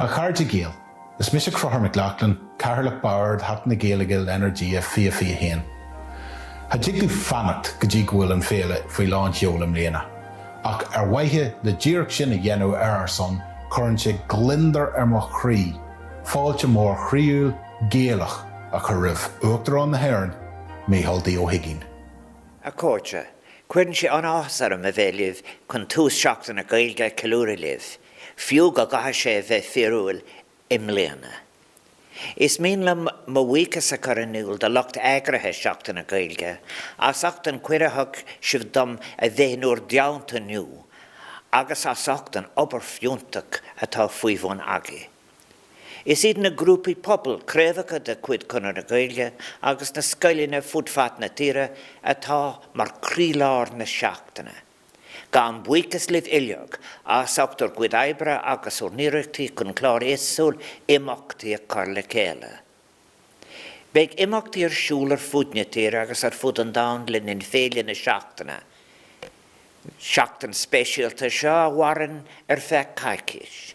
A chairde Gael, Is mise Crothúr Mac Lochlainn, Cathaoirleach Bhord Sheachtain na Gaeilge le Energia 2021. Cha dtig liom fanacht go dtí go bhfuil an féile faoi lán sheol i mbliana, ach ar mhaithe le díreach sin a dhéanamh ar ár son, cuireann sé gliondar ar mo chroí fáilte mhór chroíúil, Gaelach a chur roimh Uachtarán na hÉireann, Micheál D. Ó hUigínn. A Chairde, Cuireann sé an-áthas orm a bheith libh chun tús Seachtain na Gaeilge a cheiliúradh libh, fiú go gcaithfidh sé a bheith fíorúil i mbliana. Is mian liom mo bhuíochas a chur in iúl do lucht eagraithe Seachtain na Gaeilge as ucht an cuireadh a thug sibh dom a bheith in bhur dteannta inniu agus as ucht an obair fiúntach atá faoi bhun agaibh. Is iad na grúpaí pobail, craobhacha de chuid Chonradh na Gaeilge agus na scoileanna fud fad na tíre atá mar croílár na seachtaine. Gabhaim buíochas libh uilig as ucht bhur gcuid oibre agus bhur n-iarrachtaí chun clár éagsúil imeachtaí a chur le chéile. Beidh imeachtaí ar siúl ar fud na tíre agus ar fud an domhain le linn féile na seachtaine seachtain speisialta seo a mhaireann ar feadh coicíse.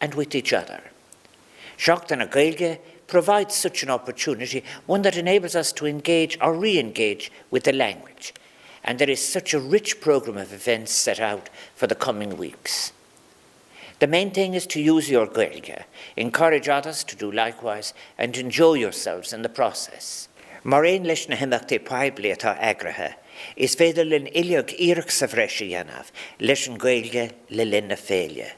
and with each other. Seachtain na Gaeilge provides such an opportunity, one that enables us to engage or re-engage with the language, and there is such a rich programme of events set out for the coming weeks. The main thing is to use your Gaeilge, encourage others to do likewise, and enjoy yourselves in the process. Mar aon leis na himeachtaí poiblí atá eagraithe, is féidir linn uilig iarracht sa bhreis a dhéanamh leis an Ghaeilge le linn na féile.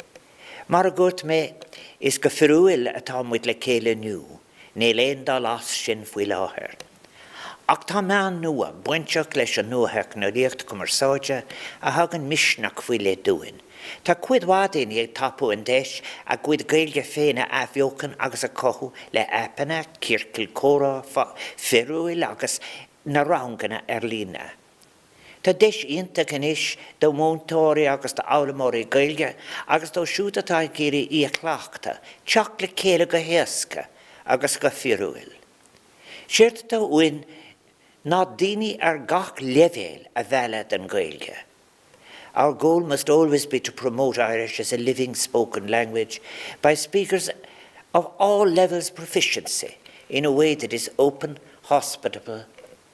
Mar a dhúirt mé, is go fíorúil atá muid le chéile inniú, níl aon dul as sin faoi láthair. Ach tá meáin nua bainteach leis an nuatheicneolaíocht cumarsáide a thugann misneach faoi leith dúinn. Tá cuid mhaith daoine ag tapú an deis a gcuid Gaeilge féin a athbheochan agus a chothú le aipeanna, ciorcail comhrá fíorúil agus na ranganna ar líne. Tá deis iontach anois do mhúinteoirí agus d'fhoghlaimeoirí Gaeilge agus dóibh siúd atá ag iarraidh í a chleachtadh, teacht le chéile go héasca agus go fíorúil. Séard atá uainn ná daoine ar gach leibhéal a mhealladh don Ghaeilge. Our goal must always be to promote Irish as a living spoken language by speakers of all levels proficiency in a way that is open, hospitable,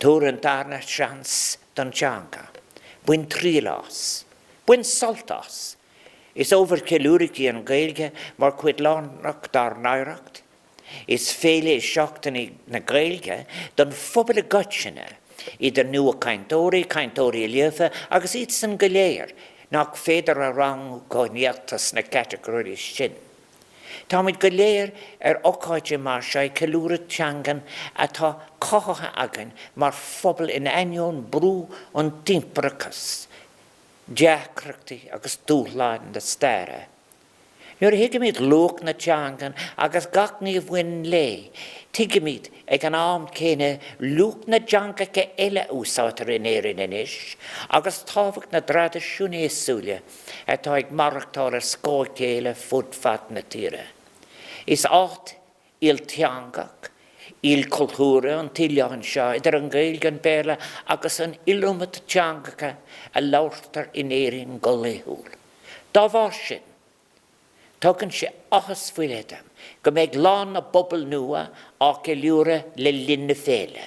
Tabhair an darna seans don teanga. Bain triail as. Bain sult as. Is ábhar ceiliúraidh í an Ghaeilge mar chuid lárnach dár n-oidhreacht. Is féile í Seachtain na Gaeilge don phobal i gcoitinne, idir nuachainteoirí, cainteoirí líofa agus iadsan go léir nach féidir a rangú go néata sna catagóirí sin. Táimid go léir ar ócáid mar seo ag ceiliúradh teangan atá cothaithe againn mar phobal in ainneoin brú an impireachais, deacrachtaí agus dúshláin na staire. Nuair a thuigimid luach na teangan agus gach ní a bhaineann léi, tuigimid ag an am céanna luach na dteangacha eile a úsáidtear in Éirinn anois agus tábhacht na dtraidisiún éagsúla atá ag maireachtáil as a chéile fud fad na tíre. Is áit ilteangach, ilchultúrtha an t-oileán seo, idir an Ghaeilge, an Béarla agus an iliomad teangacha a labhartar in Éirinn go laethúil. Dá bharr sin, tugann sé áthas faoi leith dom go mbeidh Lá na bPobal nua á cheiliúradh le linn na féile.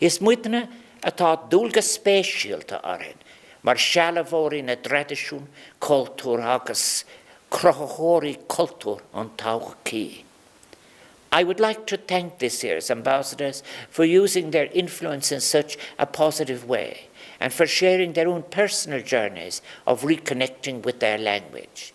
Is muidne atá dualgas speisialta orainn mar sealbhóirí na dtraidisiún cultúrtha agus cruthaitheoirí cultúr na todhchaí. I would like to thank this year's Ambassadors for using their influence in such a positive way and for sharing their own personal journeys of reconnecting with their language.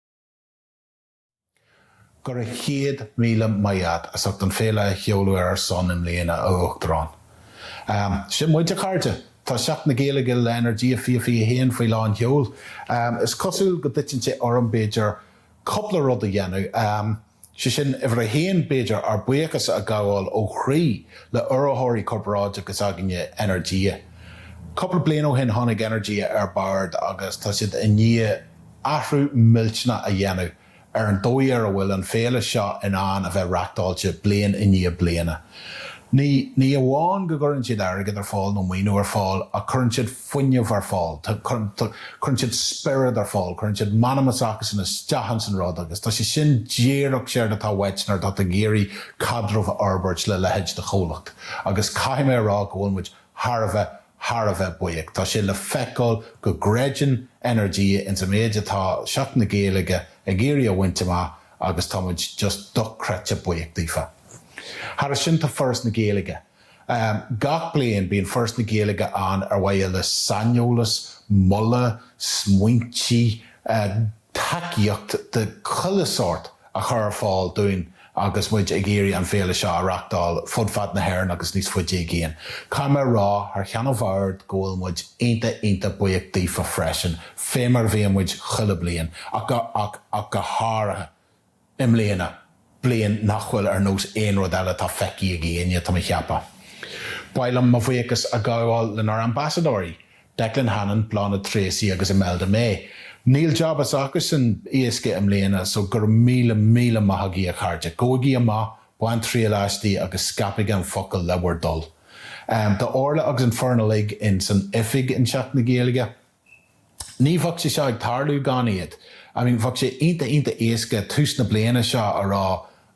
Go raibh céad míle maith agat as ucht an féile a sheoladh ar ár son i mbliana, a Uachtarán. Sin muid, a chairde! Tá Seachtain na Gaeilge le Energia fiche fiche a haon faoi lán seoil. Is cosúil go dtiteann sé orm, b'fhéidir, cúpla rud a dhéanamh. Sé sin, uimhir a haon, b'fhéidir, ár mbuíochas a ghabháil ó chroí le urraitheoirí corparáide s'againne, Energia. Cúpla bliain ó shin tháinig Energia ar bord agus tá siad i ndiaidh athrú millteanach a dhéanamh ar an dóigh ar a bhfuil an féile seo in ann a bheith reachtáilte bliain i ndiaidh bliana. Ní amháin go gcuireann siad airgead ar fáil nó maoiniú ar fáil ach cuireann siad fuinneamh ar fáil, cuireann siad spiorad ar fáil, cuireann siad an t-anam s'acusan isteach ins an rud agus tá sé sin díreach séard atá uait nuair atá tú ag iarraidh caidreamh a fhorbairt le leithéid de chomhlacht agus caithfidh mé a rá go bhfuil muid thar a bheith, thar a bheith buíoch. Tá sé le feiceáil go gcreideann Energia ins an méid atá Seachtain na Gaeilge ag iarraidh a bhaint amach agus tá muid just dochreidte buíoch daofa. Thairis sin tá Foras na Gaeilge, Gach bliain bíonn Foras na Gaeilge ann ar mhaithe le saineolas, moladh, smaointí, tacaíocht de chuile shórt a chur ar fáil dúinn agus muid ag iarraidh an féile seo a reachtáil fud fad na hÉireann agus níos faide i gcéin. Caithfidh mé a rá thar cheann an Bhoird go bhfuil muid iontach iontach buíoch daofa freisin, fé mar a bhíonn muid chuile bliain, ach go háirithe. i mbliana, bliain nach bhfuil ar nós aon rud eile atá feicthe ag éinne, tá mé ag ceapadh. Ba mhaith liom mo bhuíochas a ghabháil lenár ambasadóirí, Declan Hannon, Bláthnaid Treacy agus Imelda May. Níl jab s'acusan éasca i mbliana, so go raibh míle míle maith agaibh a chairde. Gabhaigí amach, bainigí triail aisti agus scaipigi an focal le bhur dtoil. Tá Orla agus an fhoireann uilig in san oifig i Seachtain na Gaeilge. Ní bheadh sé seo ag tarlú gan iad. I mean, bheadh sé ionta ionta éasca tús na bliana seo a rá,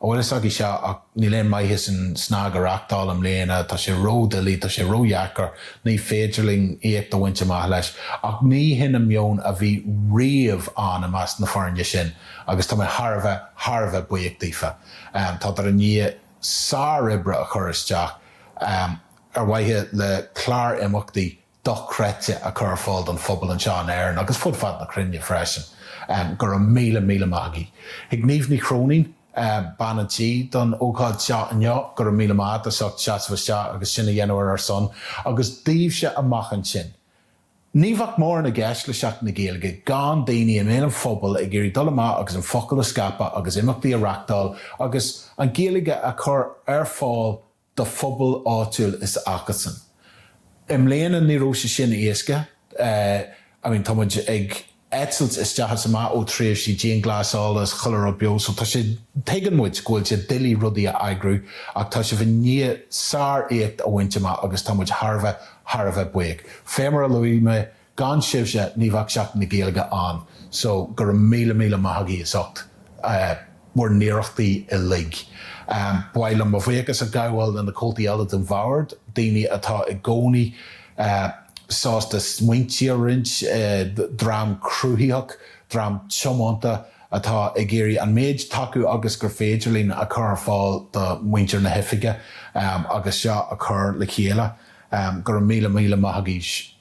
An bhfuil fhios agaibh seo ach níl aon mhaitheas an SnaG a reachtáil i mbliana, tá sé ró-dhoiligh, tá sé ró-dheacair, ní féidir linn éacht a bhaint amach leis. Ach ní hin an meon a bhí riamh ann i measc na foirne sin agus tá mé thar a bheith, thar a bheith buíoch daofa. Tádar i ndiaidh sár-obair a chur isteach ar mhaithe le clár imeachtaí dochreidte a chur ar fáil don phobal anseo in Éirinn agus ar fud fad na cruinne freisin. Go raibh míle, míle maith agaibh. Chuig Niamh Ní Chróinín, bean an tí, don ócáid seo inniu. Go raibh míle maith as ucht seasamh isteach agus sin a dhéanamh ar ár son agus daoibhse amuigh ansin. Ní bheadh mórán i gceist le Seachtain na Gaeilge gan daoine i mbéal an phobail ag iarraidh dul amach agus an focal a scaipeadh agus imeachtaí a reachtáil agus an Ghaeilge a chur ar fáil do phobal áitiúil s'acusan. I mbliana ní raibh sé sin éasca, I mean tá muid ag eitilt isteach is amach ó tréimhsí dianghlasála is chuile rud beo so tá sé, tuigeann muid go bhfuil sé doiligh rudaí a eagrú ach tá sibh i ndiaidh sár-éacht a bhaint amach agus tá muid thar a bheith, thar a bheith buíoch. Fé mar a luaigh mé Gan sibhse ní bheadh Seachtain na Gaeilge ann so go raibh míle míle maith agaibh as ucht bhur n-iarrachtaí uilig. Ba mhaith liom mo bhuíochas a ghabháil leis na comhaltaí eile den bhord, daoine atá i gcónaí sásta smaointí a roinnt, dream cruthaitheach, dream tiomanta atá ag iarraidh an méid tacú agus gur féidir linn a chur ar fáil do muintir na hoifige agus seo a chur le chéile. Go raibh míle míle maith agaibh.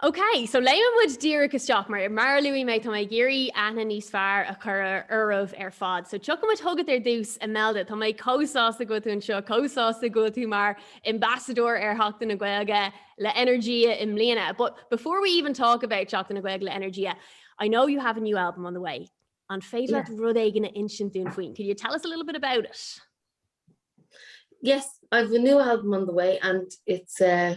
Ok, so léimfidh muid díreach isteach mar, mar a luaigh mé, tá mé ag iarraidh aithne níos fearr a chur oraibh ar fad. So tiocfaidh muid chugat ar dtús, Imelda. Tá mé chomh sásta go bhfuil tú anseo, chomh sásta go bhfuil tú mar ambassador ar Sheachtain na Gaeilge le Energia i mbliana. But before we even talk about Seachtain na Gaeilge le Energia, I know you have a new album on the way. An féidir leat Yes. rud éigin a insint dúinn faoin? Could you tell us a little bit about it? Yes, I've a new album on the way and it's eh,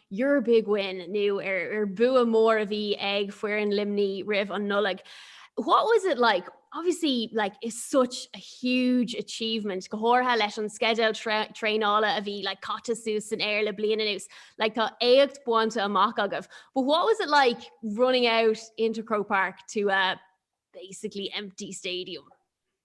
Your big win nó ar an bua mór a bhí ag foireann Luimnigh roimh an Nollaig. What was it like? Obviously like it's such a huge achievement go háirithe leis an sceideal traenála a bhí like caite suas san aer le bliain anuas. Like tá éacht bainte amach agaibh. But what was it like running out into Croke Park to a basically empty stadium?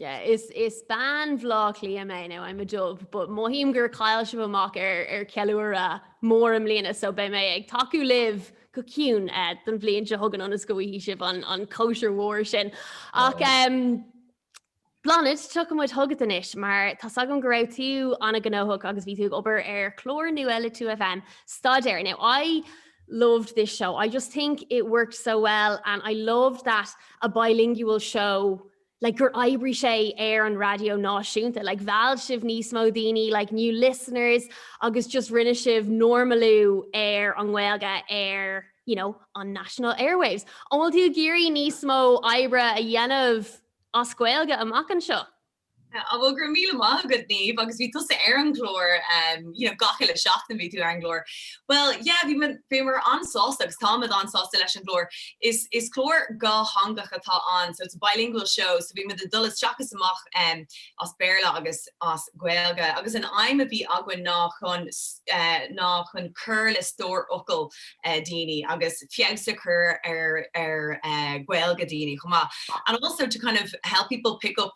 Is bean Bhleá Cliath mé, nó I'm a dub, but mothaím gur chaill sibh amach ar cheiliúradh mór i mbliana so beidh mé ag tacú libh go ciúin don bhliain seo chugainn ionas go bhfaighidh sibh an chóisir mhór sin. Ach Bláthnaid, tiocfaidh muid chugat anois mar tá's agam go raibh tú an-ghnóthach agus bhí tú ag obair ar chlár nua le 2FM, Staidéar. Now I loved this show, I just think it worked so well and I loved that a bilingual show, like gur oibrigh sé ar an raidió náisiúnta like mheall sibh níos mó daoine like new listeners agus just rinne sibh normalú ar an nGaeilge ar you know on national airwaves. An bhfuil tú ag iarraidh níos mó oibre a dhéanamh as Gaeilge amach anseo? An bhfuil? Go raibh míle maith agat Niamh agus bhí tusa ar an gclár you know gach uile seachtain bhí tú ar an gclár. Bhuel yeah bhí mé bhí mé an-sásta agus táimid an-sásta leis an gclár. Is is clár dhátheangach atá ann so it's a bilingual show so bímid ag dul isteach is amach em as Béarla agus as Gaeilge agus an aidhm a bhí againn ná chun eh ná chun cur le stór focal eh daoine agus feabhas a chur ar ar eh Gaeilge daoine chomh maith and also to kind of help people pick up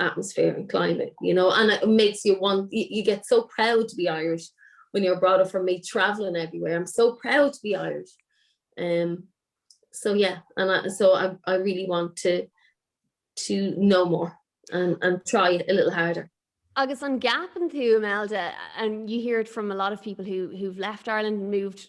atmosphere and climate you know and it makes you want you, you get so proud to be Irish when you're brought up from me traveling everywhere I'm so proud to be Irish um so yeah and I, so I, I really want to to know more and, and try it a little harder Agus an gap an tú Imelda and you hear it from a lot of people who who've left Ireland and moved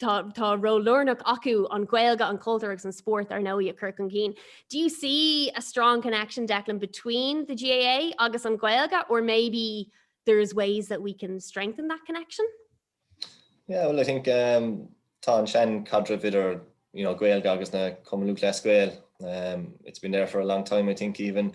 Tá tá ról lárnach acu an Ghaeilge, an cultúr agus an spórt ar ndóigh a chur chun cinn. Do you see a strong connection, Declan, between the GAA agus an Ghaeilge or maybe there is ways that we can strengthen that connection? Yeah, well I think um, tá an-seanchaidreamh idir you know, Gaeilge agus an Cumann Lúthchleas Gael. Um, it's been there for a long time, I think, even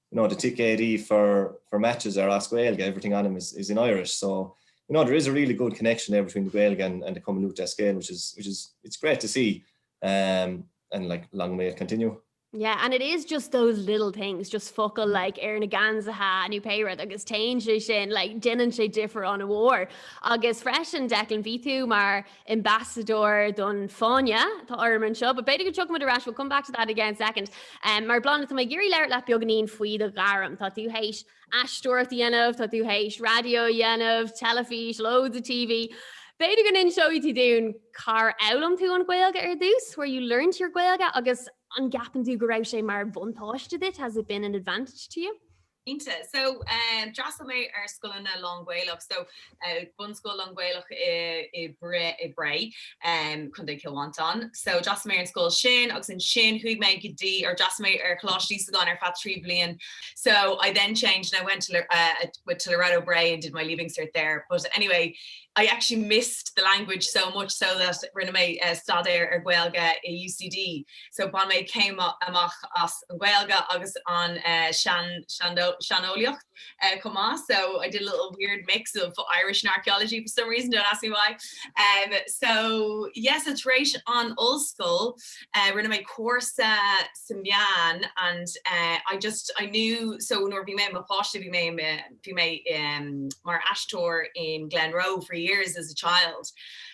you know, the ticéid í for for matches are as Gaeilge, everything on them is is in Irish, so you know, there is a really good connection there between the Gaeilge and and the Cumann Lúite as Gaeil which is which is it's great to see um and like long may it continue. Yeah, and it is just those little things, just focail like ar na geansaithe nó pé rud agus téann sé sin like déanann sé difear an mhór. Agus freisin Declan bhí tú mar ambassador don Fáinne atá orm anseo, but b'fhéidir go dtiocfaimid ar ais, we'll come back to that again in a second. Mar Bláthnaid, tá mé ag iarraidh labhairt leat beagáinín faoi do ghairm. Tá tú théis aisteoireacht a dhéanamh, tá tú théis raidió a dhéanamh, teilifís, loads of TV. B'fhéidir go n-inseoidh tú dúinn cár fhoghlaim tú an Ghaeilge ar dtús, where you learnt your Gaeilge, agus an gceapann tú go raibh sé mar bhuntáiste duit, has it been an advantage to you? Cinnte. So d'fhreastail mé ar scoileanna lán-Ghaelach. So bunscoil lán-Ghaelach i Bré, Contae Chill Mhantáin. So d'fhreastail mé ar an scoil sin agus ansin chuaigh mé go dtí, or d'fhreastail mé ar Choláiste Íosagáin ar feadh trí bliain. So I then changed and I went to, went to Loreto Bray and did my Leaving Cert there. But anyway, I actually missed the language so much so that rinne mé staidéar ar Ghaeilge i UCD. so bain mé céim amach as an Gaeilge agus an seandálaíocht chomh maith, so I did a little weird mix of Irish and archaeology for some reason, don't ask me why. So yeah, so tar éis an ollscoil rinne mé cúrsa sna meáin and I just, I knew, so nuair a bhí mé i mo pháiste bhí mé, bhí mé mar aisteoir in Glenroe for years as a child,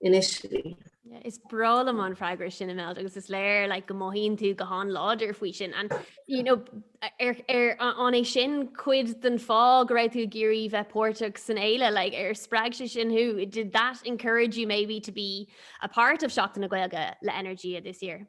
in Oiseal. Is breá liom an freagra sin Imelda agus is léir like, go mothaíonn tú go han-láidir faoi sin and you know, ar, ar an é sin cuid den fáth go raibh tú ag iarraidh bheith páirteach san fhéile like, ar spreag sé sin thú did that encourage you maybe to be a part of Seachtain na Gaeilge le Energia this year?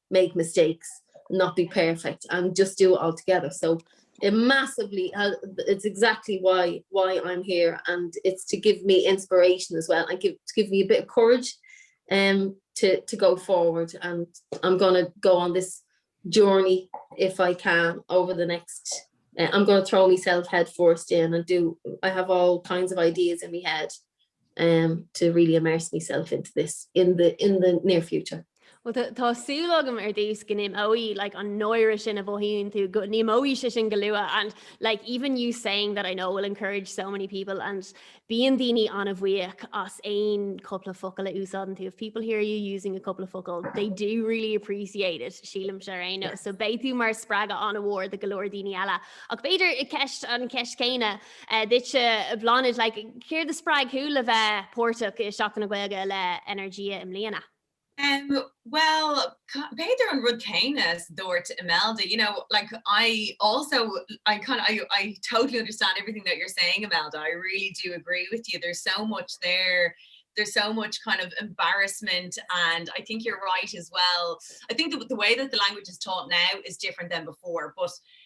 make mistakes not be perfect and just do it all together so it massively uh, it's exactly why why I'm here and it's to give me inspiration as well and give to give me a bit of courage um to to go forward and I'm gonna go on this journey if I can over the next uh, I'm gonna throw myself head first in and do I have all kinds of ideas in my head to really immerse myself into this in the in the near future. Bhuel tá súil agam ar dtús go n-imeoidh like an náire sin a mhothaíonn tú, go n-imeoidh sé sin go luath and like even you saying that I know will encourage so many people and bíonn daoine an-bhuíoch as aon cúpla focal a úsáideann tú. If people hear you using a couple of focal they do really appreciate it sílimse ar aon nós. So beidh tú mar spreagadh an-mhór do go leor daoine eile. Ach b'fhéidir an cheist an cheist céanna duitse Bláthnaid like céard a spreag thú le bheith páirteach i Seachtain na Gaeilge le Energia i mbliana? Bhuel, b'fhéidir an rud céanna is a dúirt Imelda. You know, like I also, I kind of, I I totally understand everything that you're saying Imelda, I really do agree with you, there's so much there, there's so much kind of embarrassment and I think you're right as well, I think the way that the language is taught now is different than before but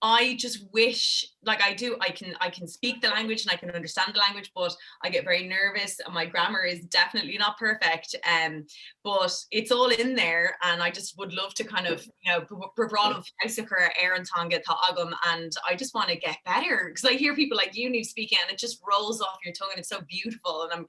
I just wish like I do I can I can speak the language and I can understand the language but I get very nervous and my grammar is definitely not perfect um but it's all in there and I just would love to kind of you know bhráid an feabhas a chur ar an teanga atá agam and I just want to get better because I hear people like you and you speak it and it just rolls off your tongue and it's so beautiful and I'm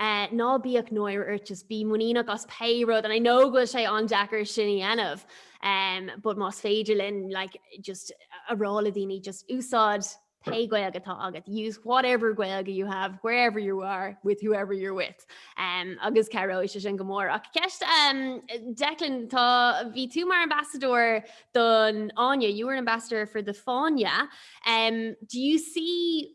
Ná bíodh náire ort, just bí muiníneach as pé rud and I know go bhfuil sé an-deacair sin a dhéanamh em, but más féidir linn like just a rá le daoine just úsáid pé Gaeilge atá agat, use whatever Gaeilge you have, wherever you are, with whoever you're with em, agus cabhróidh sé sin go mór. Ach ceist em, Declan, tá, bhí tú mar ambassador don Fháinne, you were an ambassador for the Fáinne em, do you see,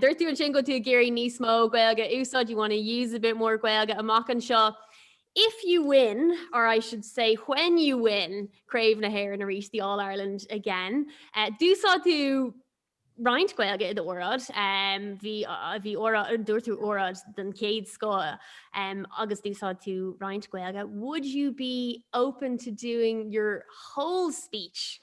Dúirt tú ansin go bhfuil tú ag iarraidh níos mó Gaeilge a úsáid, you wanna use a bit more Gaeilge amach anseo. If you win, or I should say when you win Craobh na hÉireann arís, the All Ireland again, d'úsáid tú roinnt Gaeilge i d'óráid. Bhí, bhí óráid, dúirt tú óráid den chéad scoth agus d'úsáid tú roinnt Gaeilge. Would you be open to doing your whole speech?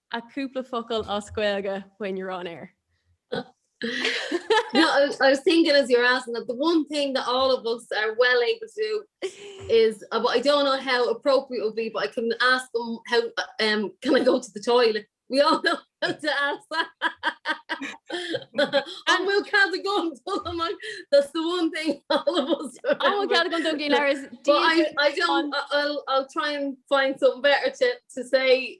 a cúpla focail as Gaeilge when you're on air. no, I, I was thinking as you're asking that the one thing that all of us are well able to do is uh, but I don't know how appropriate will be but I can ask them how um can I go to the toilet we all know how to ask that and we'll kind of go I'm like that's the one thing all of us oh, kind of go do I, I don't I'll, I'll try and find something better to, to say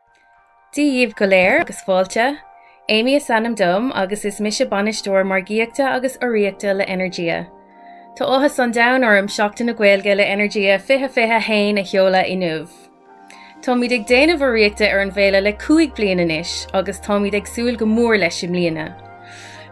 Dia dhíbh go léir agus fáilte. Amy is ainm dom agus is mise Bainisteoir Margaíochta agus Urraíochta le Energia. Tá áthas an domhain orm Seachtain na Gaeilge le Energia 2021 a sheoladh inniu. Táimid ag déanamh urraíochta ar an bhféile le cúig bliain anois agus táimid ag súil go mór leis i mbliana.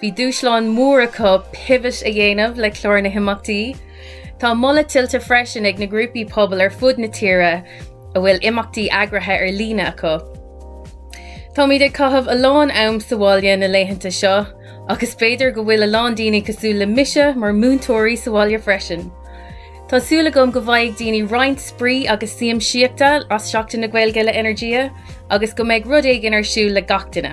Bhí dúshlán mór acu pivot a dhéanamh le clár na himeachtaí. Tá moladh tuillte freisin ag na grúpaí pobail ar fud na tíre a bhfuil imeachtaí eagraithe ar líne acu. Táimid ag caitheamh a lán am sa bhaile na laethanta seo agus b'fhéidir go bhfuil a lán daoine cosúil le mise mar mhúinteoirí sa bhaile freisin. Tá súil agam go bhfaighidh daoine roinnt spraoi agus siamsaíochta as Seachtain na Gaeilge le Energia agus go mbeidh rud éigin ar siúl le gach duine.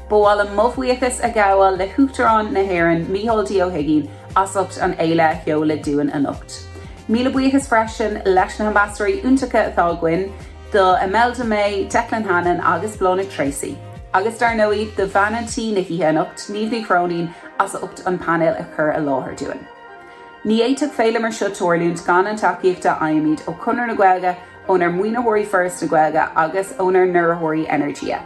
Ba mhaith liom mo bhuíochas a ghabháil le hUachtarán na hÉireann, Micheál D. Ó hUiginn, as ucht an fhéile a sheoladh dúinn anocht. Míle buíochas freisin leis na hambasadóirí iontacha atá againn, do Imelda May, Declan Hannon agus Bláthnaid Treacy. Agus ar ndóigh, do bhean an tí na hoíche anocht, Niamh Ní Chróinín, as ucht an painéal a chur i láthair dúinn. Ní fhéadfadh féile mar seo tarlúint gan an tacaíocht a fhaighimid ó Chonradh na Gaeilge, ónár maoinitheoirí Foras na Gaeilge agus ónár n-urraitheoirí Energia.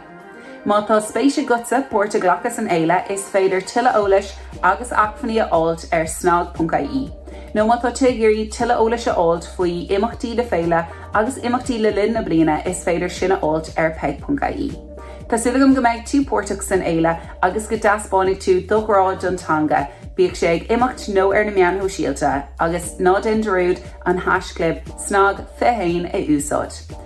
Má tá spéis agatsa páirt a ghlacadh san fhéile is féidir tuilleadh eolais agus acmhainní a fháilt ar snag.ie. Nó má tá tú ag iarraidh tuilleadh eolais a fháilt faoi imeachtaí na féile agus imeachtaí le linn na bliana is féidir sin a fháilt ar peig.ie. Tá súil agam go mbeidh tú páirteach san fhéile agus go dtaispeánfaidh tú do ghrá don teanga, bíodh sé ag imeacht nó ar na meáin shóisialta, agus ná déan dearúd an haischlib SNAG21 a úsáid!